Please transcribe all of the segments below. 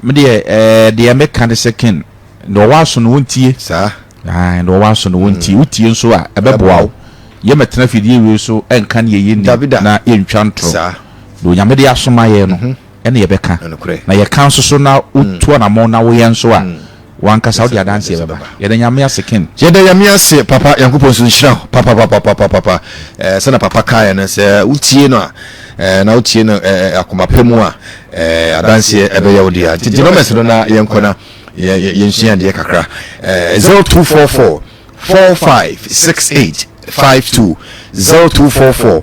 medeɛ eh, deɛ meka ne sɛ ken na ɔwɔ aso no wontie saa na ɔwɔ aso no wontie mm. wotie nso a ɛbɛboa wo yɛmɛtena fidie wei so ɛnka ne yɛyɛ ni na yɛntwa ntorɔ na onyame de asoma yɛ no mhm. ɛne yɛbɛka, na yɛka nso so na wo tu anamɔn na wo yɛ nso a, wo ankasa wode adanseɛ bɛba. Yɛda Nyame ase Ken. Yɛda Nyame ase papa Nyankopɔn nso nhyira wo papapapapapapa eh, sɛna papa kaeɛ no sɛ wo tie no a eh, na wo tie no eh, eh akoma pɛ mu a eh, adanseɛ ɛbɛyɛ wo deɛ nti gye nɔmɛs no na yɛnkɔ na yɛnsua adeɛ kakra eh, 0244 4568 52 0244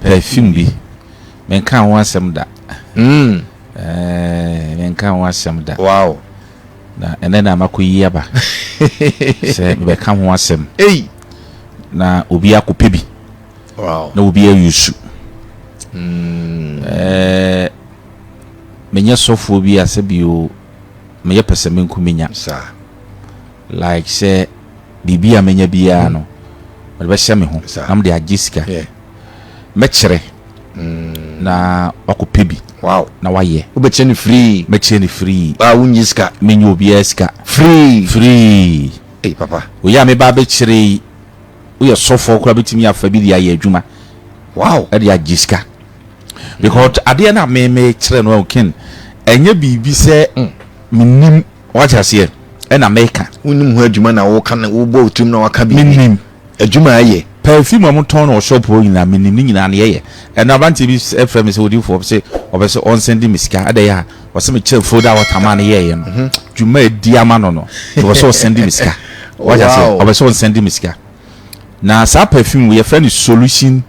Perfume bi. Menkaa ho asɛm da. Ɛɛɛ, menkaa ho asɛm da. Wow! Na ɛnnɛ na makɔyi aba sɛ mebɛka ho asɛm. Ei! Na obi akɔpɛ bi. Wow! Na obi ayusu. Ɛɛɛ, menyɛ sɔfoɔ bi ase bio, meyɛ pɛsɛmenkominya. Saa. Like sɛ biribi a mɛnya biara no mede bɛhyɛ me ho na mede agye sika. Mɛkyerɛ na wakɔpɛ bi na wayɛ. Wobɛkyerɛ no free. Mɛkyerɛ no free. Baa wonnye sika. Menyɛ obiara sika. Free. Free. Ei papa. Wei a meba abɛkyerɛ yi woyɛ sɔfoɔ koraa bɛtumi afa bi de ayɛ adwuma. Wow. Ɛde agye sika. Because adeɛ no a memekyerɛ no ken ɛnyɛ biribi sɛ menim. Wate aseɛ? Ɛna meka. Wonnim ho adwuma na woka no, wobɔ wo tirim na woaka biribi. Mennim. Adwuma a ɛyɛ. Perfume a wɔtɔn no wɔ shop hɔ nyinaa, mennim ne nyinaa, nea ɛyɛ. Ɛnnɛ aberanteɛ bi frɛɛ me sɛ, Odiyifoɔ, ɔpɛ sɛ, ɔpɛ sɛ ɔnsɛnde me sika. Adɛn a? Ɔse mekyerɛ folder a wɔtamaa no yɛeɛ no, dwuma a ɛdi ama no no, nti ɔpɛ sɛ ɔsɛnde me sika. Wate aseɛ? Wow. Ɔpɛ sɛ ɔnsɛnde me sika. Na saa perfume wei, yɛfrɛ no Solution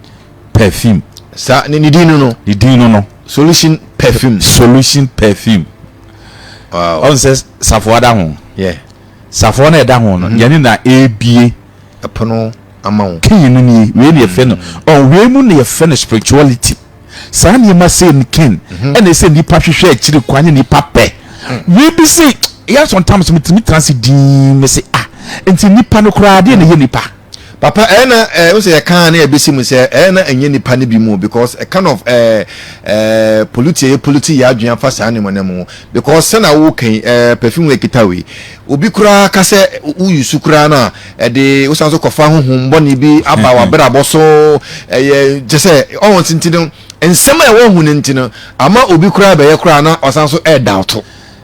Perfume. Saa, ne, ne din no no? Ne din no no. Solution Perfume. Solution Perfume. ɔn sɛ safoa da ho safoa no ɛda ho no mhm. yɛne na ɛbie ɛpono ama wo kii no nie wei ne yɛfrɛ no mhm. ɔn wei mu ne yɛfrɛ no spirituality saa nneɛma sei no ken mhm. ɛna ɛsɛ nnipa hwehwɛ akyiri kwan ne nnipa pɛ wei bi se yɛ sometimes metumi tena se din me se ah nti nnipa no koraa deɛ na ɛyɛ nnipa Papa ɛyɛ na eh, wo sɛ yɛ kaa na yɛbɛsi mu sɛ ɛyɛ na ɛnyɛ nipa no bi mu because a kind of eh, eh, polluti ɛyɛ polluti yɛ adwene afa saa nneɛma no mu because sɛ na wo kan eh, perfume wɔ ekita wei obi koraa ka sɛ wo yusu koraa na ɛde wo san so kɔfa ho hom bɔne bi aba w'abrabɔ so ɛyɛ kyɛ sɛ ɔwɔ ntinti no nsɛm a ɛwɔ ho no nti no ama obi koraa bɛyɛ koraa na ɔsan so ɛɛdawto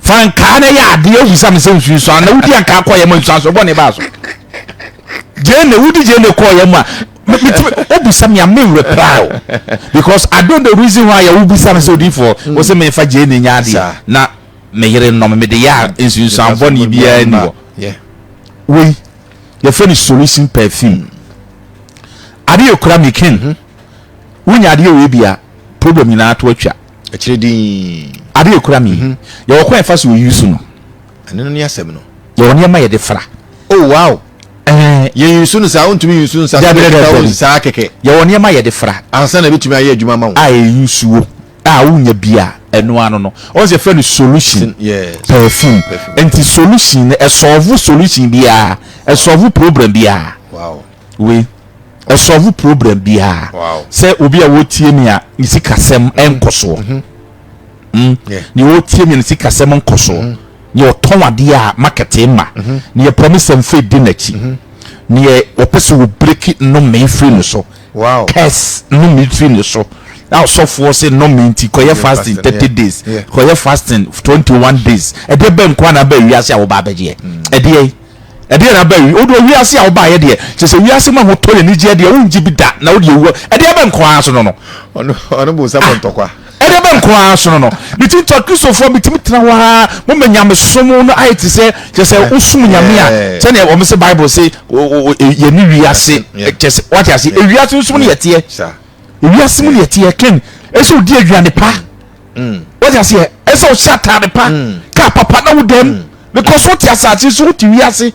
fa nkaa no yɛ adeɛ ahu sɛ mesɛ nsunsua na wodi ankaa kɔyɛ mu nsuansɔ bɔne baa so gyene wodi gyene kɔyɛ mu a wobisa me a me reply o because I don't the reason why yɛ wobisa me sɛ odifoɔ mm. wo sɛ mefa gyene nya adeɛ na me yere nnɔm mede yɛ a nsunsuan bɔne biara ni hɔ wei yɛfrɛ no solution perfume adeɛ kura me ken mm-hmm. Wonya adeɛ wei bi a, problem nyinaa to atwa. Akyire dinn. Adeɛ ekura me yi, yɛwɔ kwan yɛfa so use no. Ɛno no ne asɛm no. Yɛwɔ nneɛma yɛde fra. Oh wow! Yɛ use no saa, wontumi use nsa so. Dabi dabi dabi. Saa kɛkɛ. Yɛwɔ nneɛma yɛde fra. Ansa na ebetumi ayɛ adwuma ama wo. A yɛ use wo a wonya bi a, ɛno ano no. Ɔn sɛ yɛfrɛ no solution. Yes. Perfume. Perfume. Nti solution no, ɛsɔɔvo solution biara, ɛsɔɔvo problem biara. Wow. Wei. ɔsɔlve problem biara sɛ obi a wɔtie me a ne sikasɛm nkɔ soɔ mhm. hmm? deɛ wɔtie me a ne sikasɛm nkɔ soɔ mhm. deɛ ɔtɔn adeɛ a makɛte ma mhm. deɛ promise mfe di n'akyi deɛ ɔpɛ sɛ wɔbreki nnome firi ne so curse nnome firi ne so na ɔsɔfoɔ sɛ nnome nti kɔyɛ fasting thirty days kɔyɛ fasting twenty one days ɛdeɛ bɛn kwan na bɛn wiase a wɔba abɛgyeɛ ɛdeɛ Ɛdeɛn na aba awi? Wo deɛ wiase a wobaeɛ deɛ, kyerɛ sɛ wiase mu ahotɔ ne anigyeɛ deɛ wongye bi da, na wodeɛ wuo, ɛdeɛ bɛn nko ara so no no? Ɔne bonsam wɔ ntɔkwa. Ɛdeɛ bɛn nko ara so no no? Ne ti nti Akristofoɔ betumi tena hɔ ara, moma nyamesom no ayɛ te sɛ, kyerɛ sɛ wosom nyame a, sɛdeɛ wɔse Bible se yɛne wiase, kyerɛ sɛ, wate aseɛ, wiase nso mu na yɛteɛ, wiase mu na yɛteɛ, Ken, ɛsɛ wodi aduane pa, mm. wode aseɛ ɛsɛ ɔhyɛ ataade pa mm. kaa papa na wodam mm. because wote asase so wote wiase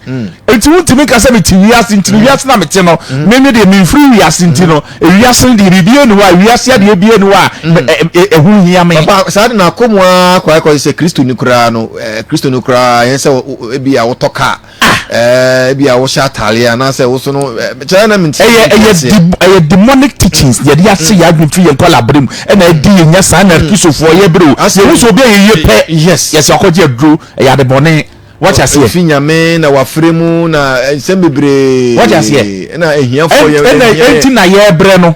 nti wontumi nka sɛ mete wiase nti no wiase na mete no meme deɛ memfiri wiase nti no wiase no deɛ biribi ani hɔ a wiase adeɛ bi ani hɔ a ɛho hia me saa de naakɔ mu a kwaakɔ sɛ kristoni koraa no kristoni koraa ɛyɛ sɛ bi a wotɔ kaa Ah! Eh, ebia wohyɛ atare anaasɛ woso no eh, kyerɛ na menti ɛyɛ ɛyɛ ɛyɛ demonic teachings mm. yɛde ase yɛ adwene firi yɛn nkɔla abere mu ɛna ɛdi yɛ nya saa na mm. kristofoɔ yɛ bere o yɛhu sɛ obi a yɛyɛ pɛ yɛsɛ akɔgye aduro ɛyɛ adebɔne wɔte aseɛ fi nyame na wafere mu na eh, nsɛm bebree wɔte aseɛ ɛna ahiafoɔ yɛ ɛna ɛnti na yɛbrɛ no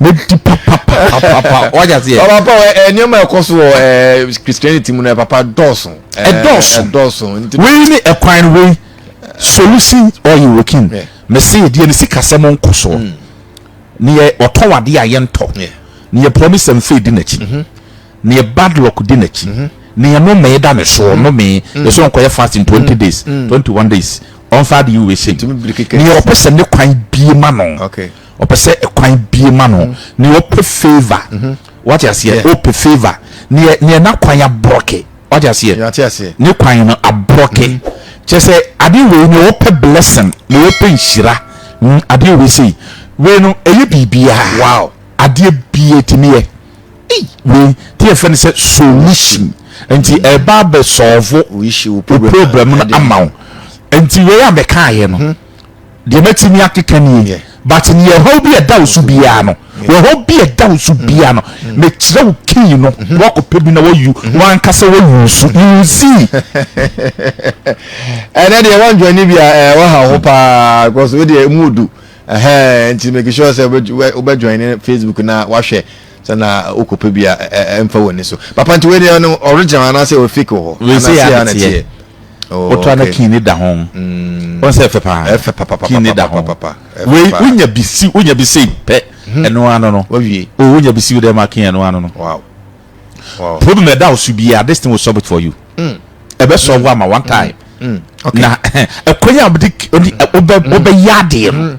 mɛdi papapapapa wagye aseɛ papa eh, nneɛma ɛkɔ so wɔ eh, christianity mu no eh, papa dɔɔso ɛdɔɔso ɛdɔɔso wei ne ɛkwan no wei solution ɔyɛ wokin mɛsɛ yɛdeɛ no sikasɛm nkɔ soɔ hmm. ne yɛ ɔtɔ wadeɛ a yɛntɔ ne yɛ promise and faith di n'akyi mhm. ne yɛ bad luck di n'akyi mhm. ne yɛ nomee da ne soɔ mhm. nomee yɛ so nkɔyɛ fasting twenty days twenty one days ɔnfa de yi wei sɛ ne yɛ ɔpɛ sɛ ne kwan bie ma no. Ɔpɛ sɛ ɛkwan bie ma no ne ɔpɛ favour wate aseɛ ɔpɛ favour neɛ neɛ na kwan abrɔke wate aseɛ ne kwan no abrɔke kyɛ sɛ adeɛ wei ne ɔpɛ blessing ne ɔpɛ nhyira adeɛ wei sei wei no ɛyɛ biribiaa adeɛ bie tumi yɛ wei te yɛfɛ no sɛ solution nti ɛba bɛ sɔɔvo problem no ama wo nti wei a mɛkaayɛ no Deɛ mɛtumi akeka nie, but neɛ ɛhaw bi a ɛda wo so biara no, ɛhaw bi a ɛda wo so biara no, mekyerɛ wo key no, na wakɔpɛ bi na wayu, wankasa wayu nso, you will see. Ɛnɛ deɛ wɔndwɛne bi a ɛɛ wɔha ho paa, because wo deɛ mu odu, ɛhɛn, nti make sure sɛ wobɛdwɛne Facebook na wahwɛ. Sɛ na wo kɔ pɛ bi a ɛnfa wɔ ni so. Papa nti wei deɛ ɔno original anaa sɛ ɔyɛ fake wɔ hɔ. Wei sɛ yɛ ana teɛ. Woto ana kin ne da ho. Wɔn sɛ ɛfɛ paa. Ɛfɛ papapapa. Kin ne da ho. Wei wonya bi si wonya bi sei pɛ ɛno ano no. Wawie. O wonya bi si wo dɛ ma kin ɛno ano no. Wow. Wow. Problem ɛda wo so biara this thing will solve it for you. Mm. Ɛbɛ solve mm. ama one time. Mm. Mm. Okay. Na ɛkwan a wɔde wɔbɛ wɔbɛ yɛ adeɛ no.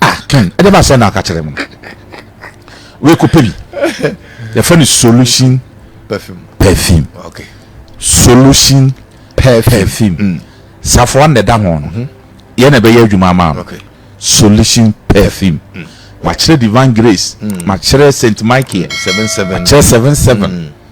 ah twɛn ɛde ba sɛ na aka kyerɛ mu wei kɔ pɛ bi yɛfrɛ no solution perfume perfume okay. solution perfume, perfume. Mm. safoa na ɛda ho no mm-hmm. yɛ na ɛbɛyɛ adwuma ama no okay. solution perfume mm. makyerɛ divine grace mm. makyerɛ st michael mm. seven seven. makyerɛ seven seven. Mm.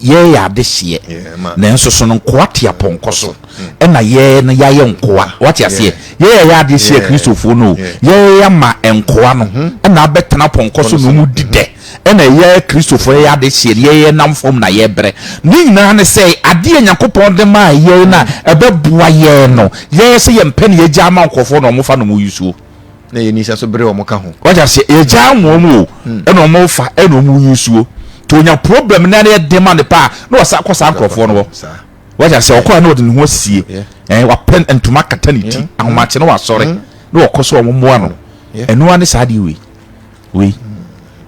yɛyɛ adehyeɛ nanso sono nkoa te apɔnkɔ so ɛna yɛ no yɛayɛ nkoa wate aseɛ yɛyɛ yɛ adehyeɛ kristofoɔ no yɛyɛ yɛama nkoa no ɛna abɛtena apɔnkɔ so na ɔmu di dɛ ɛna yɛ kristofoɔ yɛyɛ adehyeɛ no yɛyɛ nam fam na yɛbrɛ ne nyinaa ne sɛ adeɛ nyankopɔn de maa yɛ no a ɛbɛboa yɛ no yɛyɛ sɛ yɛmpɛ ne yɛgya ama nkurɔfoɔ na ɔmofa no mu yusuo na yɛn nisa so bere wɔn ka ho. Wagye aseɛ yɛgyaa wɔn o hmm. ɛna wɔn refa ɛna wɔn reyi nsuo to onya problem na ɛyɛ den ma ne paa na wasa akɔ saa nkurɔfoɔ no hɔ wagye aseɛ ɔkɔ a na ɔde ne ho asie ɛn wapɛ ntoma kata ne ti hmm. ahomakye na wasɔre hmm. na ɔkɔ so wɔn mmoa no ɛnoa ne saa deɛ wei wei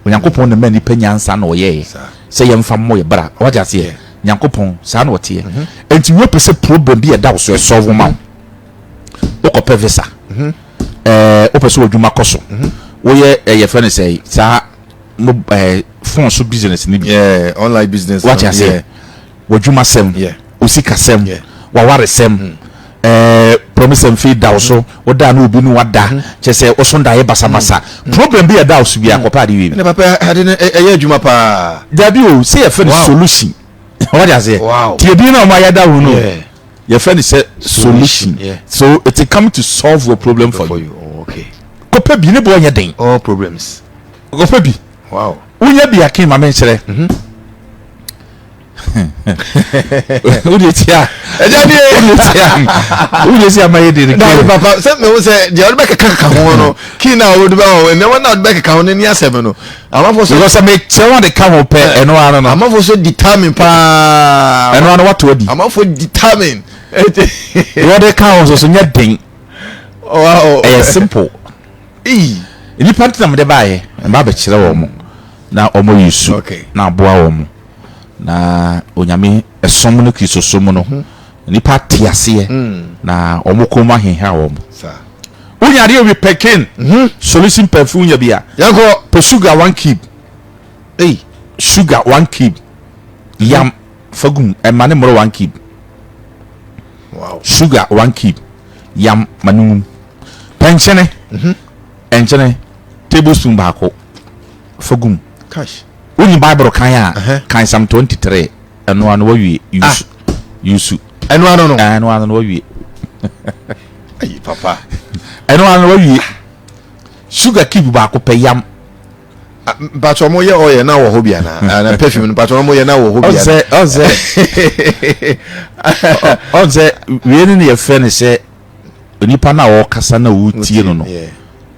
onyankopɔn na mɛ nipa nyansa na ɔyɛɛ sɛ yɛn fa mmɔ yɛ bara wagye aseɛ nyankopɔn saa na ɔteɛ mhm. nti wei pɛ sɛ problem bi ɛda so ɛsɔfo ma o. wokɔpɛ visa mhm. eh, wopɛ sɛ wadwuma kɔ so mhm. woyɛ eh, yɛfrɛ no sɛ saa eh, fon so business no bi online business wate aseɛ wadwuma sɛm osika sɛm waware sɛm mm. eh, promise and faith da wo so mm-hmm. woda na obi no wada mm-hmm. kyɛ sɛ woso ndaeɛ basabasa mm-hmm. problem bi ɛda wo so bia kɔpɛ ade wei ɛyɛ adwuma paa daabi o sɛ yɛfɛ no solution ɔwɔ de aseɛ tiɛbi na ɔma yɛda wo no yɛfrɛ no sɛ solution so it's come to solve your problem for you oh, kɔpɛ bi ne bɔ ɔnyɛ den all problems kɔpɛ bi wow wonya bi aken ma menkyerɛ mhm. wode tia ɛgya deɛ wode tia wode tia ma yɛ de ne kiri papa sɛ mehu sɛ deɛ wode bɛkeka keka ho no kii na wode bɛ hɔ nneɛma na wode bɛkeka ho no ni asɛm no Amafo sɛ. Because sɛ me kyerɛw ade ka ho pɛ, ɛno ara no. Amafo sɛ determine paa. Ɛno ara no wato adi. Amafo determine. Wɔde ka ho so nyɛ den. Wow. Ɛyɛ simple. Ee. Nipa ntina mo de baayɛ, mba abɛkyerɛ wɔn mo na wɔn yi su na aboa wɔn mo na onyame ɛsom no kristosom no. Mm-hmm. Nnipa te aseɛ na wɔn kɔn mu aheha wɔn. Wo nya adeɛ wi pɛkin solution perfume nya bi a. Yɛnkɔ. Pɛ sugar one cube. Ei sugar one cube. Yam fa gum ɛma ne mmoro one cube. Wow. Sugar one cube. Yam ma ne ngum. Pɛ nkyene. Nkyene tablespoon baako fa gum. Kash. Wo nyi bible kan a kan psalm twenty three ɛno ano wa wie yusu yusu. Ɛno ano no. Ɛno ano no wa wie. Ayi papa. Ɛno ano no wa wie. Sugar cube baako pɛ yam. Ah, mpatwa ɔmo yɛ ɔyɛ na wɔ hɔ bi ana ah, na perfume no mpatwa ɔmo yɛ na wɔ hɔ bi ana. Ɔnsɛ ɔnsɛ ɔnsɛ wie ne ne yɛ fɛ ne sɛ. Onipa no a ɔrekasa no a woretie no no,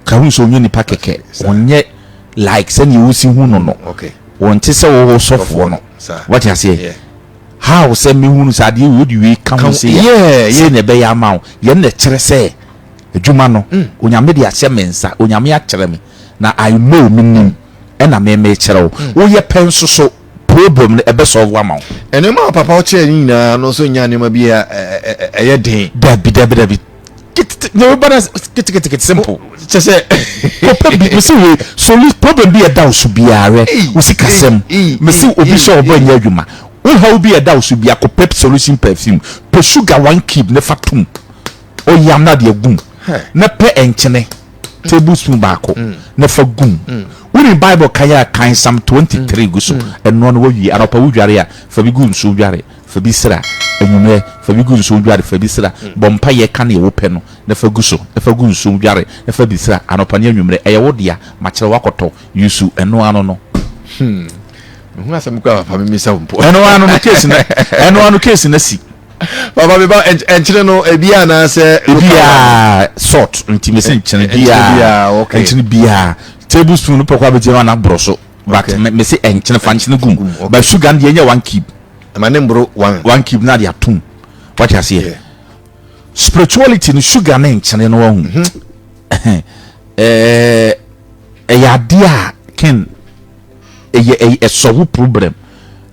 ka hu sɛ ɔnyɛ nipa kɛkɛ, ɔnyɛ like sɛdeɛ wosi hu no no, ɔnte sɛ wo wo sɔfoɔ no. Wate aseɛ? How sɛ mɛhunu sɛ adeɛ wei wode wei ka ho sei a, sei na ɛbɛyɛ ama wo. Yɛn na ɛkyerɛ sɛ adwuma no, Onyame de ahyɛ me nsa, Onyame akyerɛ me, na I know, menim, ɛna me mekyerɛ wo. Woyɛ pɛ nso so. problem no ɛbɛ solve ama wo. Nneɛma a papa kyerɛ ne nyinaa no nso nyɛ nneɛma bi a ɛyɛ den. Dabi dabi dabi kete nneɛma ba na kete kete kete simple. Kyɛ sɛ kɔpɛ bi mesi wei soli problem bi ɛda wo so biara wo sikasɛm mesi obi hyɛ ɔbɔ nyɛ adwuma wo haw bi ɛda wo so biara kɔpɛ solution perfume pɛ sugar one cube ne fa tom. Ɔyam no adeɛ gum na pɛ nkyene table spoon baako na fa gum. Wonim Bible kan a kan Psalm 23 gu so. Ɛnoa no wowie. Anɔpa wodware a, fa bi gu nsuo dware, fa bi sra. Anwummerɛ, fa bi gu nsuo dware, fa bi sra. Bɔ mpaeɛ ka deɛ wopɛ no na fa gu so na fa gu nsuo dware na fa bi sra anɔpa ne anwummerɛ. Ɛyɛ wo dea. Makyerɛ wo akɔtɔ. Yusu ɛnoa no no. Hmm. Mehu asɛm koraa papa memisa wo mpo. Ɛnoa no no case no ɛnoa no case no asi. baba mi ba ɛnkyene no ebi anaasɛ. ebi a salt nti mi sɛ nkyene bi a nkyene bi a table spoon no pɔkɔ abɛgye no ana borɔ so but mi sɛ ɛnkyene fa nkyene gum but sugar no deɛ nyɛ one cube. ɛma ne mboro one. one cube na de atum wati aseɛ spirituality no sugar ne nkyene no ɔhu ɛɛ ɛyɛ adeɛ a ken. Ɛyɛ ɛy ɛsɔ wo problem.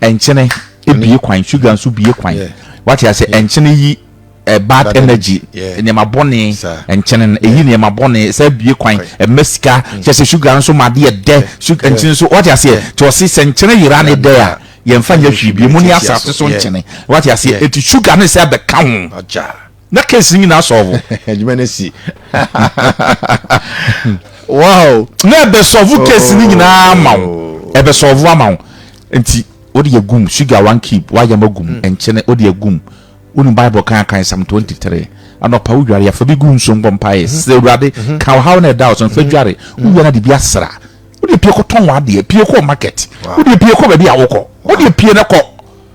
Ɛnkyene ebue kwan, sugar nso bue kwan. Yeah. Wate ase yeah. ɛnkyene yi uh, bad, bad energy nneɛma bɔne nkyɛn no ɛyi nneɛma bɔne sɛ bue kwan ɛma sika mm. kyɛ sɛ sugar nso ma adeɛ dɛ nkyɛn nso wate aseɛ nti ɔse sɛ nkyɛn yera ne dɛ a yɛmfa nyɛ hwee bi mu ne asase so nkyɛn wate aseɛ ɛti sugar ne sɛ ɛbɛka ho na case nyina asɔɔvo adwuma no si wow na ɛbɛsɔɔvo case no nyinaa oh. ama wo ɛbɛsɔɔvo ama wo nti wode yɛgum sugar one cube woayam agum hmm. nkyene wode agum wonim bible kan kan sam 23 anɔpa wo dware afa bi gu nsuo mbɔ mpaeɛ hmm. sɛ awurade hmm. ka ɔhaw no ɛda wo so mfa dware wowia no de bi asra wode pie kɔtɔn w'adeɛ pie kɔ market wode pie kɔ baabi a wokɔ wode pie no kɔ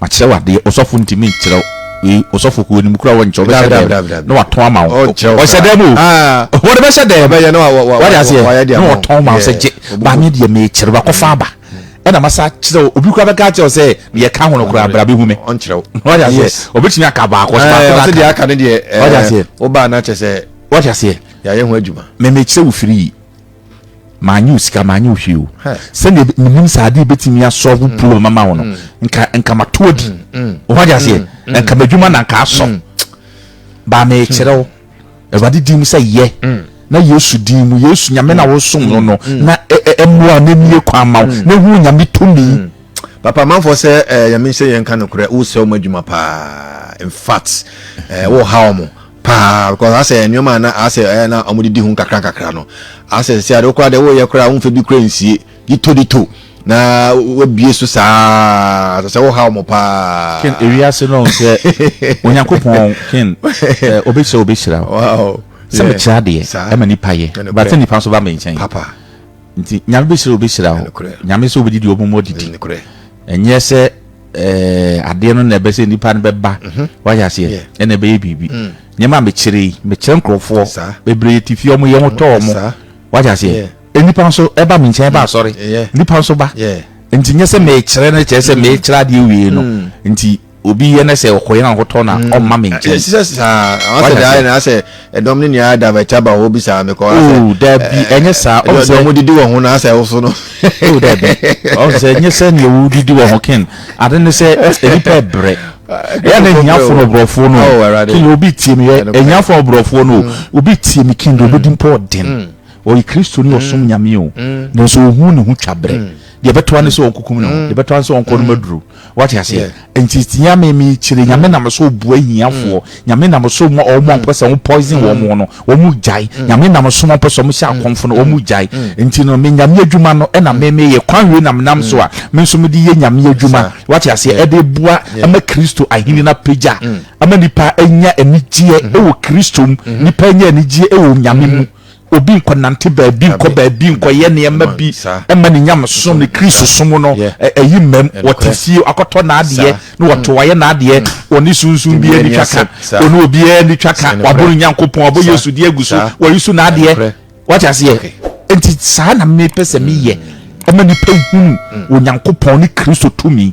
Makyerɛw adeɛ, ɔsɔfo ntumi nkyerɛw wei, ɔsɔfo kɔ anim koraa wɔnkyerɛw, ɔbɛhyɛ dɛm na watɔn ama wo, ɔhyɛ dɛm o, wɔde bɛhyɛ dɛm, wate aseɛ, na wɔtɔn ma wo sɛ gye, ba me deɛ mekyerɛw, makɔfa aba, ɛna masa akyerɛw, obi koraa bɛka akyerɛw sɛ deɛ ɛka ho no koraa bra bɛhu me, wate aseɛ, ɔbɛtumi aka baako, ɔsɛ baako na aka, wate aseɛ, wate aseɛ, yɛayɛ ho adwuma, mɛmɛkyerɛ wo firi yi. manyɛ osika manyɛ ohwee o sɛdeɛ menim sɛ adeɛ bɛtumi asɔlvo mm. problem ama wo no mm. nka nka mato adi ɔho agye aseɛ nka m'adwuma na nka asɔ baa mekyerɛ wo awurade din mu sɛ yɛ na yesu din mu yesu nyame na wosom no no na ɛmmoa na ɛmie kwan ma wo na ɛhu nyame tumi papa amanfoɔ sɛ eh, nyame sɛ yɛnka nokorɛ wosɛ wo ma adwuma paa infact eh, woha wɔ mo paa because asɛ nneɛma a na asɛ ɛyɛ na wɔn de di ho nkakra nkakra no asɛ sɛ ade koraa deɛ wɔyɛ koraa wɔn fɛ bi koraa nsie dito dito na wɔabie so saa sɛ sɛ wɔha wɔn paa. ken ewiase no sɛ onyankopɔn ken sɛ obehyira obehyira o sɛ mekyerɛ adeɛ ɛma nipa yɛ bata nipa nso ba me nkyɛn papa. Nti Nyame bɛhyira obi hyira hɔ. Nyame sɛ obɛdi deɛ ɔmomɔ didi. Ɛnyɛ sɛ eh, adeɛ no na ɛbɛ sɛ nnipa no bɛba mhm. wayɛ aseɛ ɛna ɛbɛyɛ biribi. Mm. Nneɛma a mekyerɛ yi, mekyerɛ nkurɔfoɔ bebree te fie ɔmo yɛ ho tɔ ɔmo wayɛ aseɛ. Nnipa nso ɛba me nkyɛn ɛba mm. asɔre. Nnipa nso ba. Nti nyɛ sɛ mekyerɛ no kyerɛ sɛ mekyerɛ mm. adeɛ wie no. Nti Obi yɛ na sɛ ɔkɔ yɛn ahotɔ na hmm. ɔmma me nkyɛn. Ɛsɛ saa asɛ de ayɛ na asɛ ɛdɔm ne nea ada bɛ taba hɔ bi saa mekɔ asɛ. Oo oh, dabi eh, ɛnyɛ saa ɔn sɛ ɔmo didi wɔn ho na asɛ ɔso no. Oo oh, dabi ɔn sɛ ɛnyɛ sɛ nea ɔmo didi wɔn ho ken ade ne sɛ nipa ɛbrɛ ɛyɛ na ehiafo no ɔbrɔfo no oh, kin obi tie mi yɛ ehiafo ɔbrɔfo no hmm. obi tie mi kin de obi di mpɔ ɔden ɔyɛ kristu ni ɔsom nyame o nanso ohun ne ho twa brɛ. deɛ bɛtoa ne sɛ mm. ɔnkokum ne ho mm. deɛ bɛtoa ne sɛ ɔnkɔ no mm. maduro wate aseɛ nti nyame mekyerɛ nyame nam so bua hiafoɔ nyame nam so ma ɔmo a mpɛ sɛ ɔmo poison wɔn mo no ɔmo gyae nyame nam so ma ɔmpɛ sɛ ɔmo hyɛ akɔmfo no ɔmo gyae nti no me nyame adwuma no ɛna me meyɛ kwan wei nam nam so a me nso mede yɛ nyame adwuma wate aseɛ ɛde bua ɛma kristo ahene no apagya ɛma nipa anya anigyeɛ ɛwɔ kristo mu nipa anya anigyeɛ ɛwɔ nyame mu obi nkɔnante baabi, nkɔ baabi, nkɔyɛ nneɛma bi mma ne nyamesom, ne Kristosom no ayi mmam. Wɔte fie, akɔtɔ n'adeɛ na wɔto, wayɛ n'adeɛ. Ɔne sunsum biara nni twaka, ɔne obiara nni twaka. Wabɔ ne Nyankopɔn, wabɔ Yesu din agu so, wayisu n'adeɛ. Wate aseɛ? Enti saa na mepɛ sɛ meyɛ, ɛma nnipa hunu Onyankopɔn ne Kristo tumi.